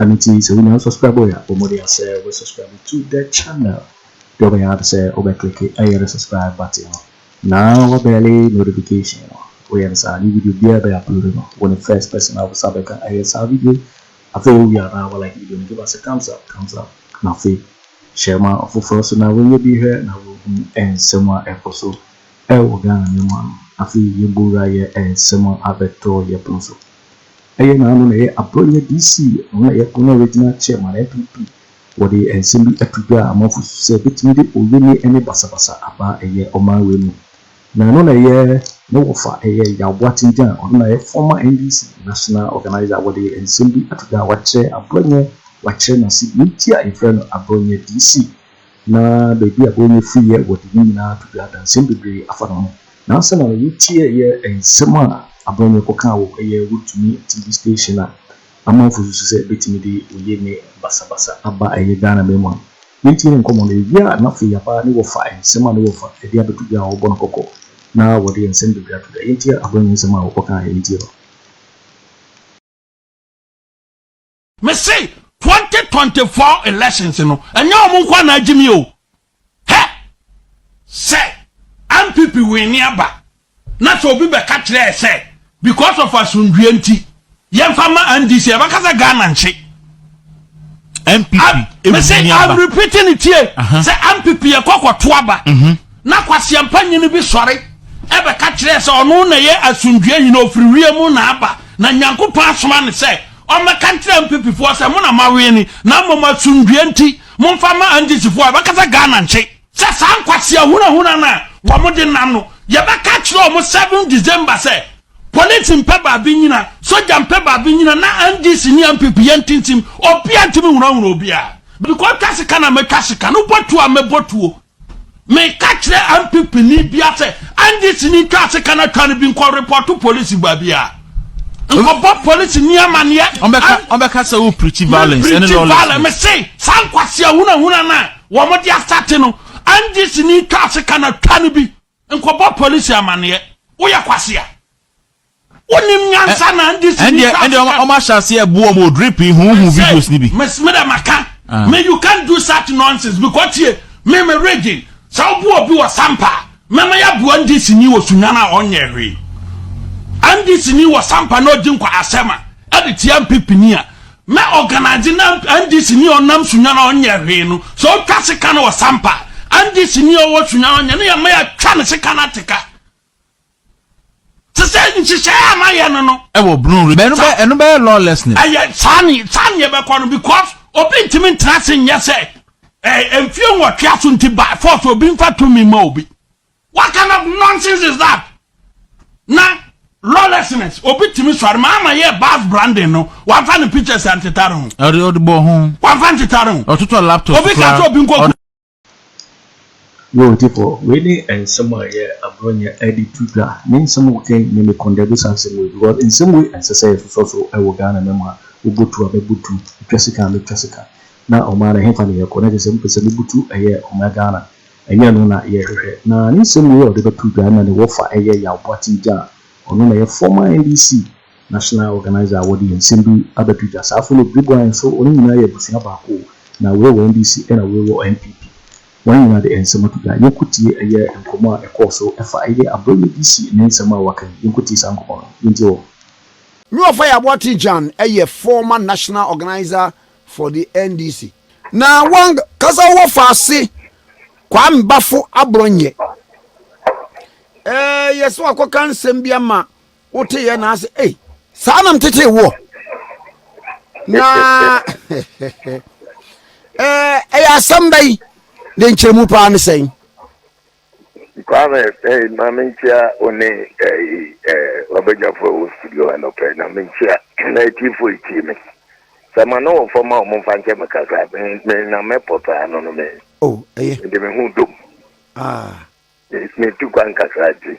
Ɛno nti sɛ wonya unsubscribe a, bɔ mmɔden sɛ wobɛ subscribe to the channel. Deɛ wobɛyɛ ara ne sɛ wobɛ click ɛyɛ no subscribe button no na wabɛle notification no. Woyɛ no saa a, new video biara ɛbɛ upload no, wo ne first person a wosan bɛka ɛyɛ saa video yi. Afei wowie a na wa like video no, give us a thumbs up, thumbs up, na afei share ma ɔfoforɔ nso na wɔnyɛ bi nhwɛ na wɔhu nsɛm a ɛkɔ so ɛwɔ Ghana mmamu ano. Afei yɛbɔ wura yɛ nsɛm a abɛtɔ yɛpono so. Ɛyɛ na ano na ɛyɛ Abrɔnyɛ DC no na ɛyɛ Ghana Regional Chairman, NPP, wɔde nsɛm bi ato dwa a amanfo susu sɛ ebetumi de oyeni ne basabasa aba ɛyɛ ɔman wei mu. Na ɛno na ɛyɛ ne wɔfa ɛyɛ Yaw Boateng Gyan, ɔno na ɛyɛ former NDC National Organiser a wɔde nsɛm bi ato dwa a wakyerɛ Abrɔnyɛ, wakyerɛ n'ase, nti a yɛfrɛ no Abrɔnyɛ DC. Ná baabi a Bonya fiiɛ wɔ de ne nyinaa to dwa, danseɛ bebree afa ne ho. Nansa na n'ani teɛɛ nsɛm a Abonya kɔkaa wɔ ɛyɛ Wontumi TV station a amanfo susu sɛ ɛbɛtumi de oyie ne basabasa aba ɛyɛ Ghanaman mu ano. Yɛntie ne nkɔmmɔ no, yɛwie a na afei yɛaba ne wɔfa nsɛm a ne wɔfa de abɛto dwa a wɔbɔ no kɔkɔ na wɔde nsɛm bebree ato dwa. Yɛntie Abonya nsɛm a ɔkɔkaeɛ, yɛntie no. Me se 2024 elections no ɛnyɛ wɔn nko na agye mi o. Hɛ sɛ MPP wini aba na sɛ obi bɛka kyerɛ sɛ because of asundue nti yɛmfa ma NDC ɛbɛka sɛ Ghana nkye. MPP ewini aba. Me se I'm repeating it here sɛ MPP yɛ kɔkɔ to aba. Mhm. Na kwaseɛmpa nyini bi sɔre bɛka kyerɛɛ sɛ ɔno na ɛyɛ asomdwoeɛ hene, ɔfiri wiem na aba, na Nyankopɔn asoma no sɛ ɔmmɛka nkyerɛ Mpepifoɔ sɛ mo na moawene, na mmom asomdwoeɛ nti momfa mma Angyezifoɔ a ɛbɛka sɛ Ghana nkye. Sɛ saa nkwasea ahunahuna no a wɔde nam no, yɛbɛka akyerɛ wɔn seven December sɛ Polisi mpɛ baabi nnyina, Sogya mpɛ baabi nnyina, na NDC ne NPP yɛnte nsim, obiara ntumi nhunahuna obiara. Mekɔtwa sika na mɛtwa sika, no bɔ tuo a mɛbɔ tuo. Meka kyerɛ NPP ni bia sɛ NDC ni twa ase ka na twa no bi nkɔ report polisi baabi a nkɔbɔ polisi ni amaneɛ. Ɔbɛka sɛ wo preachi violence ɛne lawlessness. Mese saa nkwasi ahunahuna no a wɔn de asate no NDC ni twa ase ka na twa no bi nkɔbɔ polisi amaneɛ. Woyɛ kwasi a. Wonim nyansa na ndi si ni kwa. Ɛnde ɔmo ahyɛ aseɛ bu ɔmo drip yi huhu videos ni bi. Mes me dɛ maka ah. me you can't do such nonsense because tie me me region sɛ wobu obi wɔ sampa a mɛma yɛ aboa ndi si ni wɔ sunyan a ɔnyɛ hwee ndi si ni wɔ sampa na ɔgye nkwa asɛm a ɛde tia mpipini a mɛ organize na ndi si ni ɔnam sunyan a ɔnyɛ hwee no sɛ ɔtwa sika no wɔ sampa ndi si ni ɔwɔ sunyan ɔnyɛ no yɛ mɛ yɛ twa ne sika no ateka te sɛ nhyehyɛe a mayɛ no no. ɛwɔ brun re ɛno bɛ ɛno bɛyɛ lawlessness. ɛyɛ saa ne saa ne yɛbɛkɔ no because obi ntumi ntra ase nyɛ sɛ ɛɛ mfie nwɔtwe aso nti by force obi nfa tumi ma obi what kind of nonsense is that na lawlessness obi tumi sɔre maa ama yɛ bars branding no wafa ne pictures antetare ho. ɔde ɔde bɔ ho. wafa ntetare ho. ɔtotɔ laptop kura obi ka sɛ obi nkɔ. Yo Odipo, wei ne nsɛm a ɛyɛ agorɔ nyɛ ɛde to dwa, ne nsɛm a woka yi nyɛ me kɔndɛbisa nsɛm wei because nsɛm wei ɛnsɛ sɛ yɛsosɔ so wɔ Ghana na mu a, wobotu a mɛbotu, metwa sika a mɛtwa sika, na ɔman no ɛhefa na yɛkɔ na kyerɛ sɛ mopɛ sɛ mobutu ɛyɛ ɔman Ghana, ɛnyɛ ɛno na yɛhwehwɛ. Na ne nsɛm wei a ɔde bɛto dwa ɛna ne wɔfa ɛyɛ Yaw Boateng Jah a ɔno na ɛyɛ former NDC National Organiser a wɔde nsɛm bi abɛto gya saa Philip Dubois nso wɔn nyinaa yɛ abusua baako o na wei wɔ NDC ɛna wei wɔ NPP wɔn nyinaa de nsɛm ato gya yɛnko tie ɛyɛ nkɔmɔ a ɛkɔɔ so ɛfa ɛyɛ Aboagye DC ne nsɛm a waka yi yɛnko tie saa nkɔmɔ no yɛntie wɔn. Nea ɔfa yɛ Aboate Gyan ɛyɛ former National Organiser for the NDC na wɔn kasa wɔ fa ase Kwame Bafo Aborɔnyɛ ɛɛ yɛsɛ wakɔ ka nsɛm bi ama wote yɛ na ase ei saa nam tete woɔ na ɛyɛ asɛm bɛ yi ne nkyerɛmu paa ne sɛn kwame eh, ma menkyia one ɔbɛgyafo ɛwɔ studio ha nɔpɛ na menkyia na atiefo ɛtie me sɛ ma ne wɔ fam a ɔmo mfa nkyɛ me kakra na mɛpɔ paa no no me oh, mede me ho dom ah. metu kwan kakra nti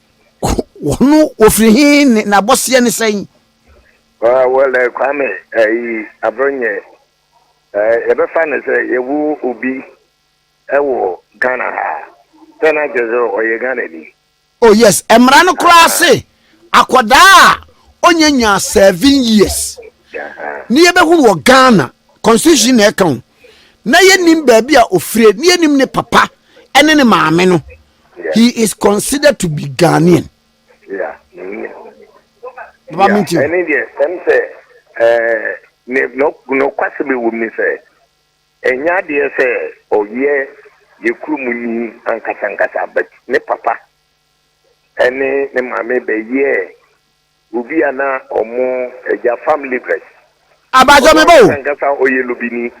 Wɔn wɔfiri he ne n'abɔseɛ ne sɛn? Wɔlɛ Kwame ayi Abronyɛ yɛbɛfa no sɛ yɛwo obi wɔ Ghana ha sɛ na kyerɛ sɛ ɔyɛ Ghana ni. Oh yes, mmara no koraa se akwadaa a ɔnyɛ nyaa seven years ne yɛbɛhunu wɔ Ghana constitution na ɛka ho na yɛnim baabi a ɔfire ne yɛnim ne papa ne ne maame no He is considered to be Ghanaian. Yeah. Baba mi ti. Ɛni deɛ sɛm sɛ ɛɛ ne nɔkwasi bɛ wɔ mu ni sɛ ɛnyɛ adeɛ sɛ ɔyɛ yɛ kurom ni ankasankasa but ne papa ɛne ne maame bɛ yɛ Obi a na ɔmo agya fam Levites. Abaajo me ba o. Ɔno ankasa ɔyɛ Lubini.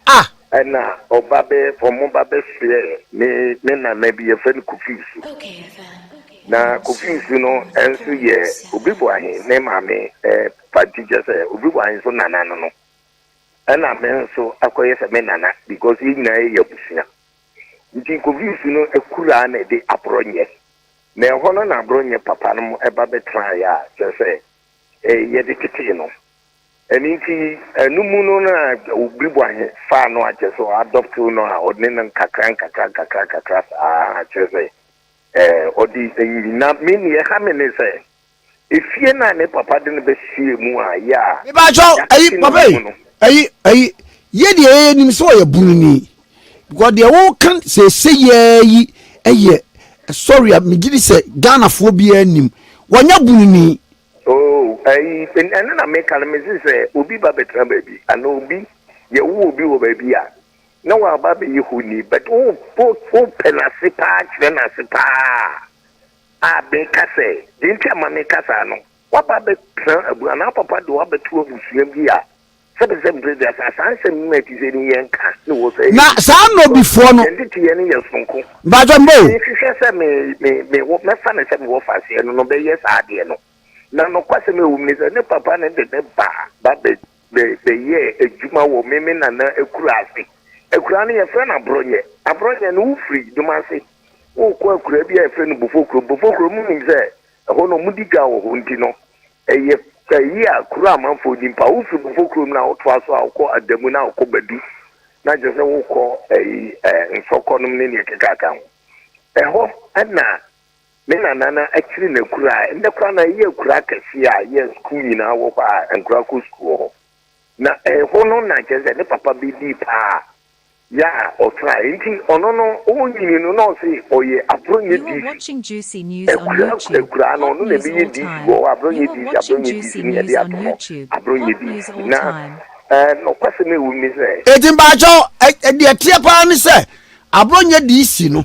Ah. Ɛna ɔba bɛ, ɔmo ba bɛ soɛ ne, ne nana bi yɛfrɛ no Kofiusu. Na Kofiusu no nso yɛ Obiboahe ne maame eh, panti kyɛ sɛ Obiboahe nso nana no no. Ɛna me nso akɔyɛ sɛ me nana because yɛn nyinaa yɛ abusua. Nti Koviisi no akuraa na ɛde aborɔnyɛ. Na ɛhɔ no na aborɔnyɛ papa nom ba bɛtenaeɛ a kyerɛ sɛ yɛde tetee no. Ɛno nti ɛno mu no na Obiriboahe faa no a kyerɛ sɛ ɔ adopt no a ɔne no nkakra nkakra nkakra nkakra saa kyerɛ sɛ ɔde nyi na me neɛ ɛha me ne sɛ Efie no a ne papa de no bɛsie mu a yɛ a Mepaatwɔ, ayi, yɛate ne papa yi, mu no. ayi, ayi, yɛ deɛ yɛ nim sɛ ɔyɛ broni, because deɛ wo ka sɛsɛ yɛ yi yɛ, sorry a, me gye di sɛ Ghana foɔ biara nim, wɔnyɛ broni. Oh, ayi, ɛno na meka no, mese sɛ obi ba bɛtena baabi, anaa obi, yɛ wo obi wɔ baabi a, na waba abɛyɛ honi, but wo, wo, wo pɛ n'ase paa kyerɛ n'ase paa a, A Ben ka sɛ, Deɛ enti a mereka saa no, woaba abɛtena abura anaa papa de wo abɛto abusua bi a sɛbɛsɛ mprɛ bi ase a saa nsɛm no a ɛte sɛi no yɛnka ne wo sɛ ɛyɛ Na nnipa saa nnɔbifoɔ no, yɛn teteyɛ no yɛ sononko. mpakyɛ mma o. Mehwehwɛ sɛ me, me, mewɔ, mɛfa no sɛ mewɔ faseɛ no, no bɛyɛ saa adeɛ no. Na nokwasɛm a ɛwɔ mu ne sɛ, ne papa no de ne ba ba bɛ, Bɛ bɛyɛɛ adwuma wɔ me me nana akuraa ase. Akuraa no yɛfrɛ no Aborɔnyɛ. Aborɔnyɛ no wofiri Domase wokɔ akuraa bi a yɛfrɛ no Bofokuro. Bofokuro mo nim sɛ ɛhɔ no wɔdi dwa wɔ hɔ nti no ɛyɛ ɛyi a kuro a amanfoɔ nim paa. Wofiri Bofokuro mu na wotoa so a wokɔ Adamu na wokɔ Badu na kyerɛ sɛ wokɔ ɛyi ɛɛ Nsɔkɔ nom ne neɛ ɛkekaaka ho. Ɛhɔ ɛna. Me nana na akyiri na kura a ɛnɛ koraa na ɛyɛ kura akɛseɛ a yɛ sukuu nyinaa wɔ hɔ a nkura kɔ sukuu wɔ hɔ. Na ɛhɔ no na kyerɛ sɛ ne papa bɛdii paa yɛ a ɔtraa nti ɔno no ɔnyini no na ɔse ɔyɛ Abronyɛ DC. Ɛkura akuraa no ɔno na ɛbɛyɛ DC wɔ hɔ Abronyɛ DC Abronyɛ DC ne yɛde ato hɔ Abronyɛ DC na ɛɛ nɔkwasɛm a ɛwɔ mu ne sɛ. Enti mpakyɛw deɛ ɛteɛ paa ne sɛ Abronyɛ DC no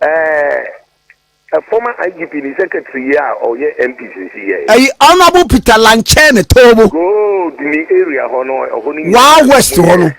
Eh, a former IGP ne secretary yi a ɔyɛ MP sisi yɛ. Ɛyi Honourable Peter Lankyɛne Toobo. Gold ni area hɔ no ɛhɔ no nyinaa. Waa west hɔ no.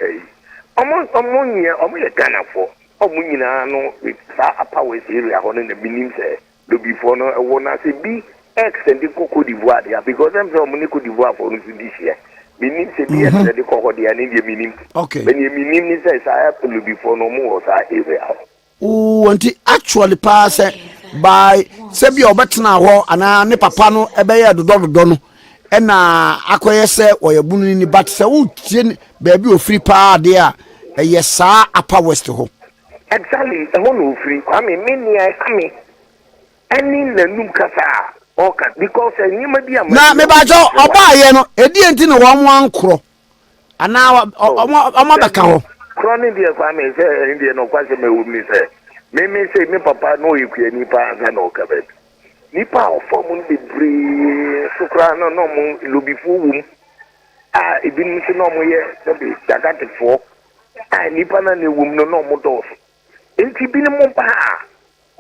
Ɔmo ɔmo nyɛ ɔmo yɛ Ghana fo ɔmo nyinaa no saa apa west area hɔ no na mi nim sɛ lobi fo no ɛwɔ na sɛ bi ɛksɛ de kɔ Cote d'Ivoire deɛ because ɛm sɛ ɔmo ne Cote d'Ivoire fo no so di hyɛ mi nim sɛ bi ɛksɛ mhm. de kɔ hɔ deɛ ne deɛ mi nim. Okay. Bɛ deɛ mi nim ne sɛ saa lobi fo no ɔmo wɔ saa area hɔ. Wɔ nti actually paa sɛ by sɛ bi a ɔbɛtena hɔ anaa ne papa no ɛbɛyɛ dodɔ dodɔ no ɛna akɔyɛ sɛ ɔyɛ bunu no ni but sɛ wotie baabi ofiri paa adeɛ a ɛyɛ saa upper west hɔ. Exactly ɛhɔ na ofiri Kwame me nea ɛha me ɛne nanum kasa a ɔka because nneɛma bi a. Na mebakyɛw ɔbaayɛ no ɛdeɛ nti na wɔn ankorɔ anaa ɔmo abɛka hɔ. Korɔ ne deɛ kwa me sɛ ɛne deɛ no kwa sɛ mɛwom ne sɛ meme sɛ me papa na ɔyɛ kuani paa ansa na ɔka baabi nipa a ɔfa mu no bebree so koraa no na ɔmo lobifoɔ wom a ebinom nso na ɔmo yɛ sɛbi dagatefoɔ a nipa na na ɛwom no na ɔmo dɔɔso nti binom ba a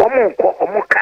ɔmo nkɔ ɔmo ka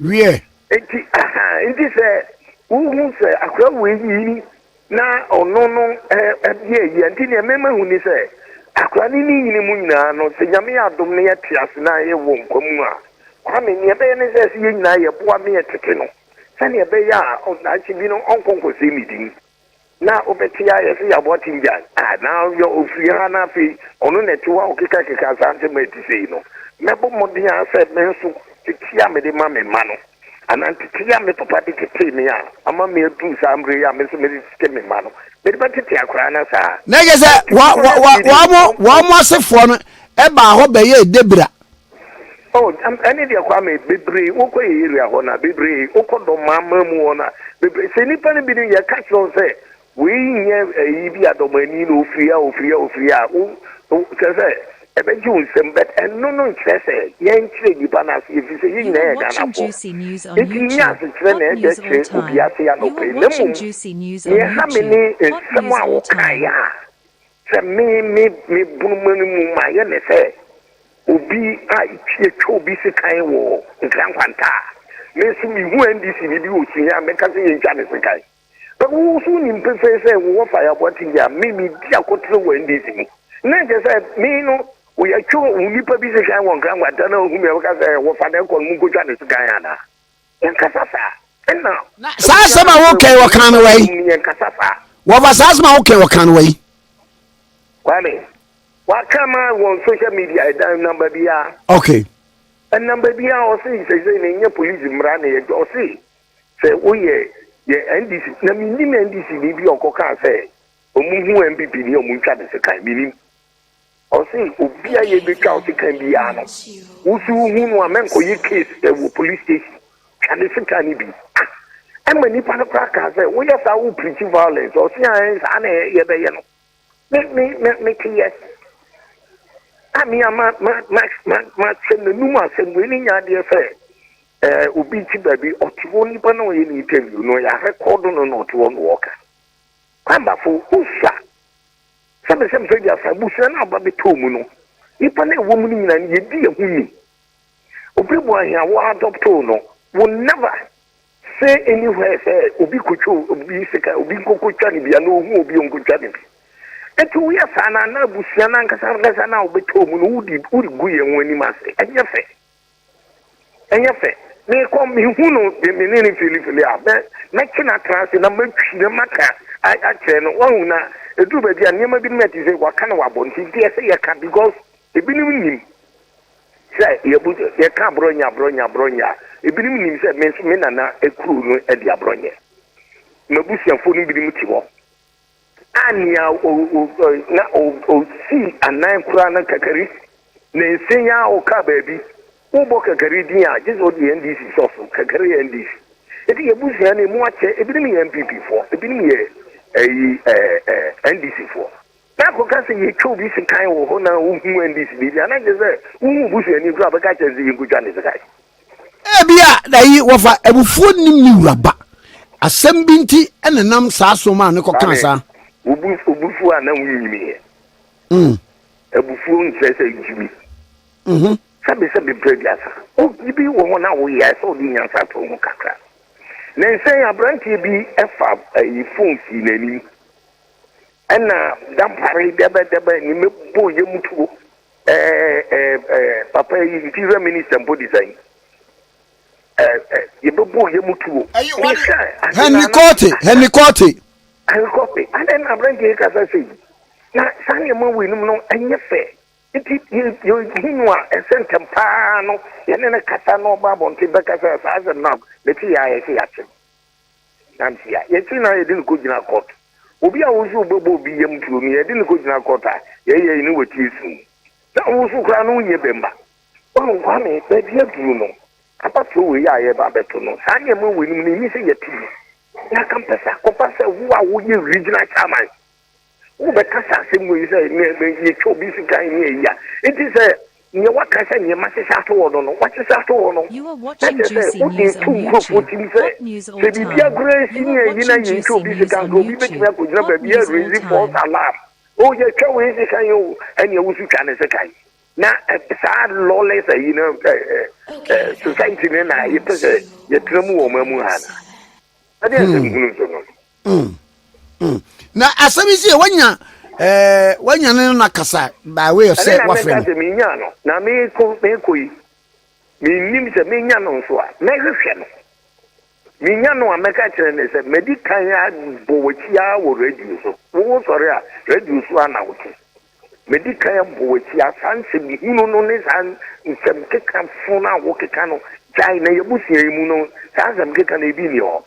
Wiɛ. Enti, ahaa, enti sɛ wohu sɛ akora wei nyini na ɔno no ɛyɛ ayi a, nti nea mema hu ni sɛ, akora no ne nyini mu nyinaa no, sɛ Nyame yɛ adom na yɛte ase na yɛwɔ nkwa mu a, Kwame, nea ɛbɛyɛ ne sɛ, sɛ yɛn nyinaa yɛboa na yɛtete no sɛnea ɛbɛyɛ a, daakye bi no, ɔnkɔ nkɔsɛe ne din. Na wobɛte a yɛse yɛaboa Tingyan a na ɔyɛ ɔfiri ha na afei ɔno na ɛte hɔ a ɔkekakeka saa nsɛm a ɛte sei no. Mɛbɔ mmɔden ara sɛ me nso ntetee a mede ma me mma no anaa ntetee a me papa de tetee me a ama me aduru saa mmerɛ yi a me nso mede tete me mma no, mede bɛtete akwadaa no saa. Na kyerɛ sɛ wɔn asefoɔ no baa hɔ bɛyɛɛ dabira Oh, am, ɛne deɛ Kwame, bebree wokɔ yɛ area hɔ na bebree wokɔ dɔm maa maa mu hɔ na bebree sɛ nipa no bi no yɛ ka kyerɛ sɛ wei nyɛ ɛyi bi a dɔm ani na ofiri a ofiri a ofiri a wo kyerɛ sɛ ɛbɛgye wo nsɛm but ɛno no nkyerɛ sɛ yɛn kyerɛ nipa no ase efi sɛ yɛn nyinaa yɛ Ghana fo nti nyɛ asekyerɛ na ɛda kyerɛ obi ase anɔpɛ na mmom yɛ ha me ne nsɛm a wokaeɛ a. Sɛ me me me bunu ma no mu ma ayɛ me sɛ obi a yɛtwa obi sekan wɔ Nkran Nkwanta a, me nso mehu NDC ni bi wɔ Sunyani a, mɛka sɛ yɛntwa no sekan. But wo nso wonim pefee sɛ wo wɔ Faye Aboate yi a, me medi akotene wɔ NDC mu. Na ɛkyerɛ sɛ me no wo yɛtwe wo nipa bi sekan wɔ Nkran Nkwanta na wohu me a, wobɛka sɛ wɔfa no kɔ no monkɔtwa no sekan anaa? saa asɛm a wokɛn wɔka no wai wɔfa saa asɛm a wokɛn wɔka no wai kwame waka ma wɔn social media ɛdan e namba biara okay ɛnam baabi a ɔse sɛsɛ na ɛnyɛ polisi mmara na yɛdwa ɔse sɛ woyɛ yɛ ndc na menim ndc ni bi ɔkɔkaa sɛ ɔmu hu mpp ni ɔmu ntwa ne sekan menim Ɔse obi a yɛbɛtwa wo sekan biaa no wo so wo hu no a mɛnkɔyɛ case wɔ police station twa ne sekan no bi ah ɛma nipa no koraa kaa sɛ woyɛ saa wo preach violence ɔse aɛn saa na yɛbɛyɛ no me me me meteyɛ a me a ma ma ma ma ma sɛm na num asɛm wei ne nya adeɛ sɛ ɛɛ obi ti baabi ɔte hɔ nipa na ɔyɛ ne interview no yɛ rekɔdo no na ɔte hɔ na ɔka kwambafo wosua Sɛ bere sɛ mfe aduasa abusua no aba bɛtɔɔ mu no, nnipa no a ɛwɔ mu no nyinaa no, yɛdi yɛn ho ni. Obi bu ahia wo adɔptoo no, wo never say anywhere sɛ obi kɔtwa obi sika, obi nkɔkɔtwa no bi, anaa ohu obi ɔnkɔtwa no bi. Ɛti woyɛ saa no, anaa abusua no ankasa ankasa no a wobɛtɔɔ mu no, wode gu yɛn ho anim ase. Ɛnyɛ fɛ. Ɛnyɛ fɛ. Mekɔ mehu no de me ne no filifili a, mɛ mɛkye no atra ase na matwi na maka akyerɛ no, wahu, na ɛduru baabi a nneɛma binom a ɛte sɛ waka na wabɔ nti, nti ɛsɛ yɛka because ebinom nim sɛ yɛbu yɛka aborɔnyɛ aborɔnyɛ aborɔnyɛ a, ebinom nim sɛ me nso me nana kuro no de aborɔnyɛ, m'abusuafoɔ no binom te hɔ. a nea na osii anan koraa no kakari ne nse yi ara ɔkaa baabi, wobɔ kakari din a, gye sɛ wode NDC sɔ so, kakari yɛ NDC. Enti yɛn abusua no emu akyɛ, ebinom yɛ NPP foɔ, ebinom yɛ ɛyi ɛɛ NDC foɔ. Na akɔka sɛ yɛtwa obi sekan wɔ hɔ na wohu NDC biribi a, na gye sɛ wohu obusuani koraa a ɔbɛka akyerɛ no sɛ yɛnkɔtwa ne sekan. Ebia na yi wɔfa abufuo nnim ne wura ba. Asɛm bi nti na ɛnam saa so maa no kɔkaa saa. Maame, wobu so a na wonnyiniiɛ. Mm. Abufuo nkyerɛ sɛ gyimi. Mhm. Sɛbesɛbe berɛ bi asa. Oh, biribi wɔ hɔ na woyɛ a ɛsɛ sɛ wode nyansa to ho kakra. Nnansa yi aberanteɛ bi fa ɛyi fon sii n'anim ɛna dampare dɛbɛdɛbɛ ne mɛbɔ yam tuo Eh eh eh papa yi interior minister mpo de sɛn eh eh yɛbɛbɔ yɛ mu tuo Henry Korte Henry Korte Henry Korte adɛn na aberante yi kasa sɛ yi na saa nneɛma wei nom no ɛnyɛ fɛ nti yɛhu no a ɛsɛ ntɛm paa no yɛne no kasa na ɔba abɔnten bɛkasa saa asɛm no a mete yɛ a yɛsɛ yɛakye nante a, yɛkyere no ara yɛde no kɔgyina kɔɔt. Obi a wo nso wobɛbɔ obi yam tuo no, yɛde no kɔgyina kɔɔt a, yɛyɛ ne watie su. Na wo nso koraa no wonyɛ bɛmma. Woahu Kwame, baabi aduru no, abatoɔ wei a yɛreba abɛto no, saa nneɛma weinom no, ɛnni sɛ yɛte bi. Na anka mpɛ sɛ akɔba sɛ wo a woyɛ regional chairman Wobɛka saa asɛm wei sɛ, Yɛtwa obi sika ɛnyɛ ayi a, enti sɛ nea waka sɛ nea mahyehyɛ ato hɔ no no, wahyehyɛ ato hɔ no, na kyerɛ sɛ wode reto nkurɔfoɔ tirim sɛ sɛ biribiara koraa resi nyɛ ayi na yɛntwa obi sika a, nka obi bɛtumi akɔgyina baabi a raise false alarm. Oh, yɛatwa wei sika yi o, ɛnneɛ wo nso twa ne sika yi. Na saa lawless ayi no society no na yɛpɛ sɛ yɛtena mu wɔ ɔman mu ha anaa? Ɛdeɛn asɛm hunu nso no no? Mm, mm. Na asɛm yi sɛ wanya eh, wanya ne no nakasa by way of sɛ wafrɛ no. sɛ menya no na mekɔ mekɔ yi mennim sɛ menya no nso a mɛhwehwɛ no menya no a mɛka kyerɛ ne sɛ madi kan abɔ w'akyi ara wɔ radio so wowo sɔre a radio so a na wote madi kan abɔ w'akyi a saa nsɛm yi hunu no ne saa nsɛm keka fo no a wokeka no gyae na yɛbusua yi mu no saa nsɛm keka no ebi nni hɔ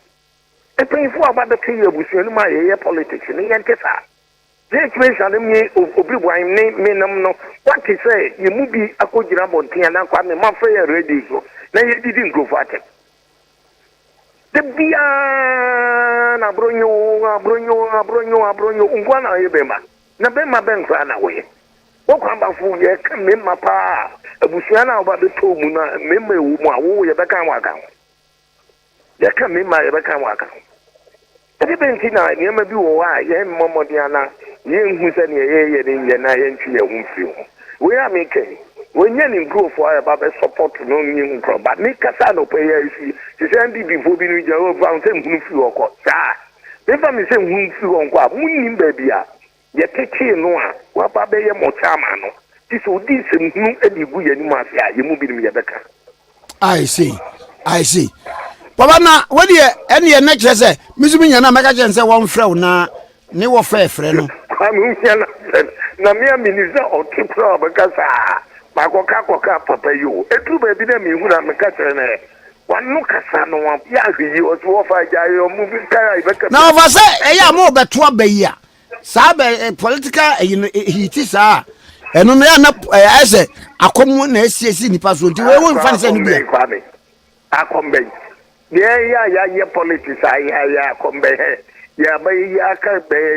Mpanyinfoɔ aba bɛka yi abusua no mu a yɛyɛ politics no yɛnte saa Jake Mensah no me Obiribuan ne me nom no wate sɛ yɛ mu bi akɔ gyina abɔnten anaa kɔ ame mafrɛ yɛn radio so na yɛdidi nkurɔfoɔ atɛm da biaa na abronyo abronyo abronyo abronyo nkoa na ɔyɛ bɛma na bɛma bɛn koraa na woyɛ wɔkɔ abafo yɛka mema paa abusua no a wɔba bɛtɔ mu no a mema ɛwɔ mu a wo yɛbɛka ho aka ho Yɛka mmarima a, yɛbɛka wɔn aka ho. Ɛde bɛn nti na nneɛma bi wɔ hɔ a yɛremmɔ mmɔden anaa yɛrenhu sɛ nea yɛreyɛ no nyɛ na yɛntwe yɛn ho mfiri ho? Wei a meka yi, wɔnyɛ ne nkurɔfoɔ a ɛba bɛsɔpɔto no nyɛ hu koraa. But mekasa anɔpa yi ara si te sɛ NDPfoɔ binom gyina hɔ fa ho sɛ nhunu firi hɔ kɔ. Saa a, memfa me sɛ nhunu firi hɔ nkɔ a, monnim baabi a Yɛtetee no a waba abɛyɛ mo Chairman no, gye sɛ odi nsɛm hunu de regu yɛn anim ase a, yɛn mu binom yɛbɛka. I see, I see. Papa na wodeɛ ɛne ɛnɛ kyerɛ sɛ me nso menya no a mɛka kyerɛ no sɛ wɔmfrɛ wo na ne wɔfɛ frɛ no. Kwame wohia no asɛm na me a menim sɛ ɔte koraa a ɔbɛka saa. Makɔka akɔka papa yi o. Ɛduru baabi no a mehunu a meka kyerɛ no ɛ. Wano kasa no yɛ ahwɛ yie. Ɔse wɔfa agya yɛ ɔmo bi nkae a yɛbɛka bi. Na ɔfa sɛ ɛyɛ a morebɛto aba yi a Saa bɛ eh, political ɛyi eh, no eh, hiti saa ɛno no yɛ na ayɛ sɛ akɔm na asiesie nipa so nti wɔn nfa ne sɛ no bia. akɔm bɛn deɛ yɛ a yɛayɛ politics a yɛayɛ akɔm bɛn hɛ yɛabɛyɛ yɛaka bɛyɛ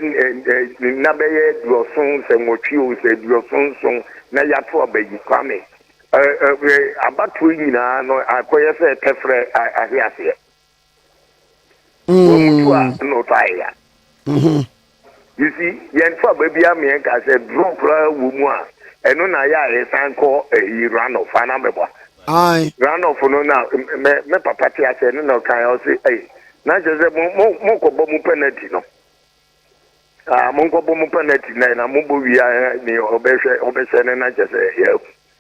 nna bɛyɛ aduɔson sɛ nwɔtwe o sɛ aduɔson nson na yɛato abayi kwame abatoɔ nyinaa no akɔyɛ sɛ tɛfrɛ ahe aseɛ wɔmutu a mm. no fa ya mm-hmm. you see yɛn fa baabi a meɛ nka sɛ duro koraa wɔ mu a ɛno na yɛ a yɛsan kɔ ɛyi eh, runoff ana mɛbɔ runoff no na mɛ mɛ papa te asɛ no na ɔkan ɔsi ɛyi eh, na kyerɛ sɛ mo mo mo nkɔbɔ mo penalty no aa ah, mo nkɔbɔ mo penalty na na mo bɔ wia eh, ni ɔbɛhwɛ ɔbɛhyɛ no na kyerɛ sɛ yɛ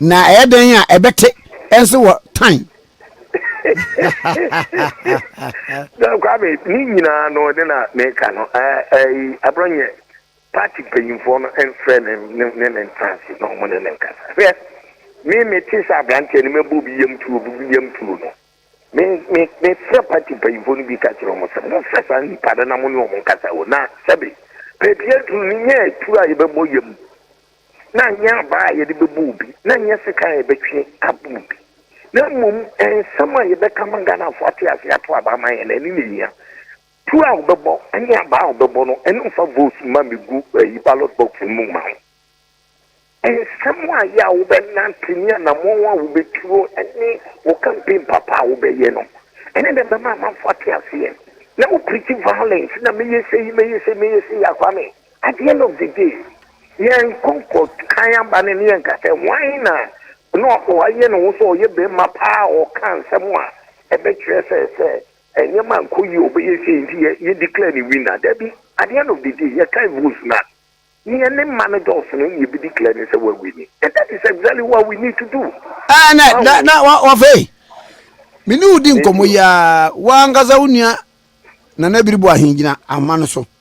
Na ɛyɛ dɛn a ɛbɛte nso wɔ tan. John Kwame, ne nyinaa no ne na meka no aborɔ nyɛ party mpanyinfoɔ no mfrɛ ne ne ne ntanse na wɔn ne ne nkasa hwɛ me mete sɛ aberanteɛ no mɛbɔ obi yam tuo obi bi yam tuo no me me mefrɛ party mpanyinfoɔ no bi ka kyerɛ wɔn sɛ mofrɛ saa nipa no na mo ne wɔn nkasa wɔ na sɛbe pɛpie duru no nyɛ atuo a yɛbɛbɔ yam na ɛnyɛ abaa a yɛde bɛbɔ obi, na ɛnyɛ sekan a yɛbɛtwe abɔ obi, na mmom nsɛm a yɛbɛka ma Ghanafoɔ ate aseɛ ato aba ama yɛn no, ɛno na ɛhia. Tuo a wobɛbɔ ne abaa a wobɛbɔ no, ɛno mfa vote mma mmɛgu ayi ballot box no mu mma wo. Nsɛm a yɛ a wobɛnante ne anammɔn a wobɛtuo ne wo campaign papa a wobɛyɛ no, ɛno na ɛbɛma amanfoɔ ate aseɛ. Na wo preach violence na mɛyɛ sei, mɛyɛ sei, mɛyɛ sei, Akwame. At the end of the day, yɛnkɔ nkɔkan aba no ne yɛnka sɛ hwan na na wayɛ ne ho sɛ ɔyɛ barima paa a ɔka nsɛm a ɛbɛkyerɛ sɛ sɛ nneɛma ankɔ yie a ɔbɛyɛ sei nti yɛ yɛ declare ne winner. Dabi, at the end of the day yɛkan votes no a, nea ne mma no dɔɔso no na yɛbɛ declare no sɛ wawini. And that is exactly what we need to do. Ɛɛ na Wahu? na na wa- wafei me ne wo di nkɔmmɔ yi ara w'ankasa wo nua Nana Biribo Ahengyina ahoma no so.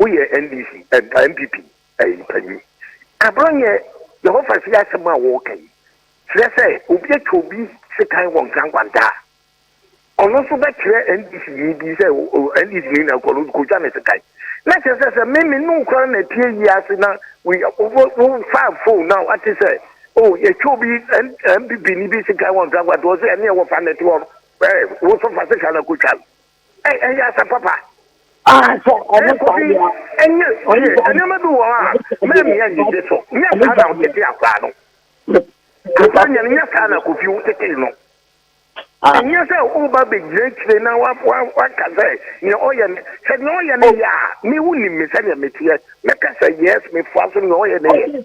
Woyɛ NDC anaa NPP mpanyin? Agorɔ nyɛ Jehovah fie asɛm a wɔreka yi kyerɛ sɛ obi atwa obi sekan wɔ nkrankwantaa a, ɔno nso bɛkyerɛ NDCni bi sɛ NDCni na ɔkɔ no kotwa ne sekan. Na kyerɛ sɛ sɛ me me ne wo koraa na ɛtie yi ase na wofa fon na wate sɛ o yɛtwa obi NPPni bi sekan wɔ nkrankwantaa ɔsɛ ɛneɛ wɔfa no ɛte hɔ no wo nso fa sekan no akotwa no. ɛyɛ asɛm papa. Ah, sɛ ɔno kɔ bi ɛnyɛ yie nneɛma bi wɔ hɔ a mɛmi anigye so nyɛ saa na wotete akora no afa nyɛ no nyɛ saa na kofi wotete no ɛnyɛ sɛ woba bɛgyina akyire na waka sɛ nea ɔyɛ no sɛ nea ɔyɛ no yɛ a me wo nim me sɛdeɛ meteɛ mɛka sɛ yes mefoa so nea ɔyɛ no yɛ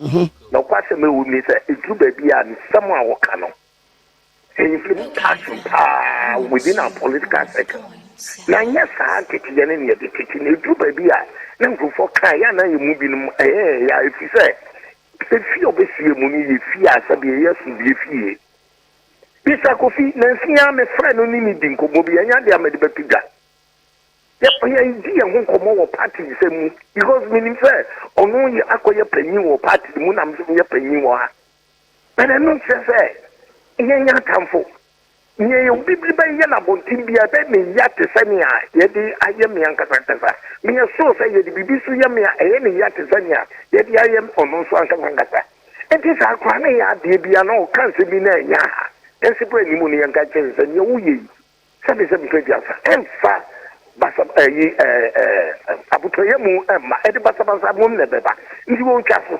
ho. Nokwasɛm a ɛwom ne sɛ, eduru baabi a nsɛm a wɔka no, mpanyimfo no taa som paa within our political circle, na ɛnyɛ saa nteteyɛ no na yɛde tete no. Eduru baabi a na nkurɔfoɔ ka a, ɛyɛ a na yɛn mu binom ɛyɛ yɛn ya, ɛfiri sɛ efie a wɔbɛsi yɛn mu no yɛ fie a sɛdeɛ ɛyɛ asomdwoeɛ fie. Mister Kofi, nanso yi ara mefrɛɛ no ne no dii nkɔmmɔ bi, ɛnyɛ adeɛ a mede bɛto dwa. Yɛ yɛn di yɛn ho nkɔmmɔ wɔ party nsɛm mu because me nim sɛ ɔno yɛ akɔ yɛ panyin wɔ party no mu na mso yɛ panyin wɔ ha but ɛno nkyerɛ sɛ yɛn yɛ atamfo nea yɛ obi bi bɛyɛ na abɔnten bi a ɛbɛ me ya te sɛ nea yɛde ayɛ me ankasa ankasa me yɛ sure sɛ yɛde biribi so yɛ me a ɛyɛ ne ya te sɛ nea yɛde ayɛ ɔno nso ankasa ankasa nti saa koraa ne yɛ adeɛ bi a na ɔka nsɛm bi na ɛnyɛ ha ɛnse bɔ anim no yɛnka kyerɛ sɛ nea woyɛ yi Sɛbi sɛbi so aduasa ɛnfa basa ɛyi ɛɛ ɛɛ abotɔyɛ mu ɛmma ɛde basabasa mom na ɛbɛba nti wɔtwa so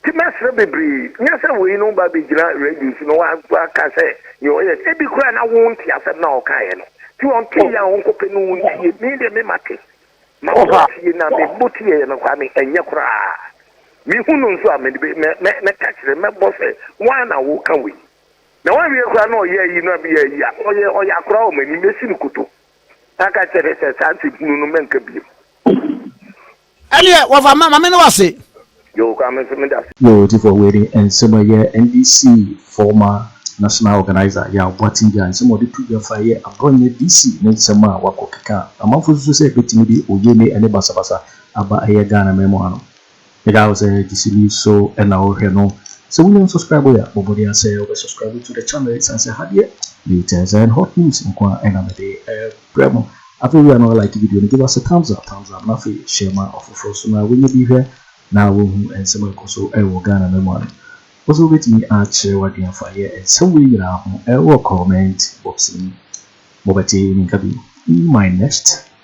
ti mɛsrɛ bebree nyɛ sɛ wei no ba bɛgyina radio so na waka sɛ deɛ ɔyɛ ebi koraa na wo nte asɛm na ɔkaeɛ no ti ɔnte yɛ a ɔnkɔpɛ no wo ntie me deɛ me mate ma wɔtie na mebɔ tieɛ no kwa me ɛnyɛ koraa mehu no nso a mɛka kyerɛ mɛbɔ sɛ woa na woka wei Na wawie koraa na ɔyɛ ayi na meyɛ ayi a, ɔyɛ ɔyɛ akora wɔ m'anim, mɛsi no koto na aka kyerɛ no sɛ saa nsɛm hunu no mɛnka bio. Ɛneɛ wɔfa ma mame no wase. Yoo koraa me nso meda ase. Yoo Divock wei de nsɛm ɛyɛ NDC former national organiser Yaw Boateng Gya nsɛm a ɔde to dwa fa ɛyɛ aborɔ nyɛ DC ne nsɛm a wakɔ keka a amanfo susu sɛ ɛbɛtumi de oye ne ɛne basabasa aba ɛyɛ Ghana man mu ha no Meda wo sɛ de sini so na wo hwɛ no. Sɛ wo nya nsubscribe yɛ a bɔ mmɔden ara sɛ wo bɛ subscribe to the channel ɛsiane sɛ ha deɛ latest and hot news nko ara na me de brɛ mo. Afei wia no like video no give us a thumbs up thumbs up na afei share ma ɔfoforɔ nso na wɔnyɛ bi hwɛ na wɔhu nsɛm a ɛkɔ so ɛwɔ Ghana ma mu ano. Wo so wobɛtumi akyerɛ w'adwene afa yɛ nsɛm wei nyinaa ho ɛwɔ comment box no mu. Mobɛte me nka bio in my next.